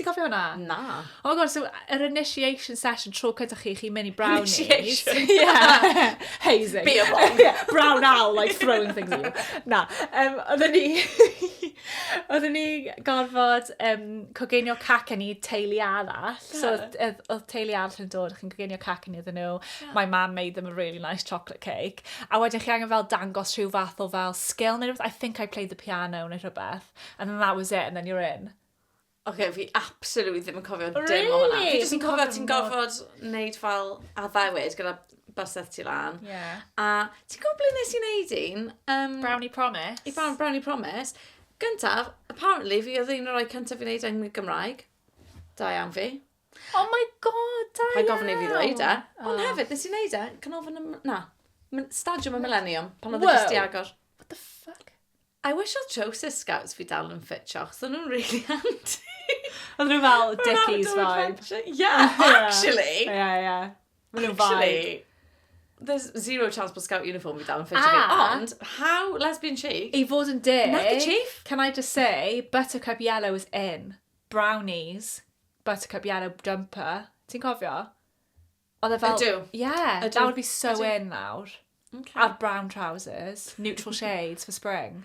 Ti'n cofio hwnna? Na. Oh god, so yr initiation session tro cyda chi, chi'n mynd i brownies. Initiation? yeah. Hazing. Be a bomb. yeah, brown owl, like throwing things at you. Na, um, oedden ni... oedden ni gorfod um, coginio cac yn ni teulu arall. Yeah. So oedd teulu arall yn dod, chi'n coginio cac yn ni oedden nhw. Yeah. My mum made them a really nice chocolate cake. A wedyn chi angen fel dangos rhyw fath o fel skill neu rhywbeth. I think I played the piano neu rhywbeth. And then that was it, and then you're in. Oce, fi absolutely ddim yn cofio dim o hwnna. Really? Fi jyst yn cofio ti'n gorfod wneud fel addewid gyda bysedd ti lan. Ie. A ti'n gwybod ble nes i wneud un? Um, Brownie Promise. I Brown Brownie Promise. Gyntaf, apparently fi oedd un o'r rhai cyntaf i wneud yng Gymraeg. Da iawn fi. Oh my god, da iawn. Pa'n gofyn i fi ddweud e. Ond oh. hefyd, nes i wneud e, canolfan y... Na. Stadiwm y Millennium, pan oedd e jyst i agor. What the fuck? I wish odd Joseph Scouts fi dal yn ffitio, achos o'n nhw'n really handy. Oedd nhw fel dickies vibe. Yeah, actually! Ie, ie. Maen nhw'n vibe. Actually, there's zero chance bod Scout uniform fi dal yn ffitio fi. Ond, how lesbian chic? I fod yn deg... Nappy chief? Can I just say, buttercup yellow is in. Brownies, buttercup yellow jumper. Ti'n cofio? Oedd e fel... Ydw. Yeah. Ydw. That would be so in nawr. Ok. A'r brown trousers. Neutral shades for spring.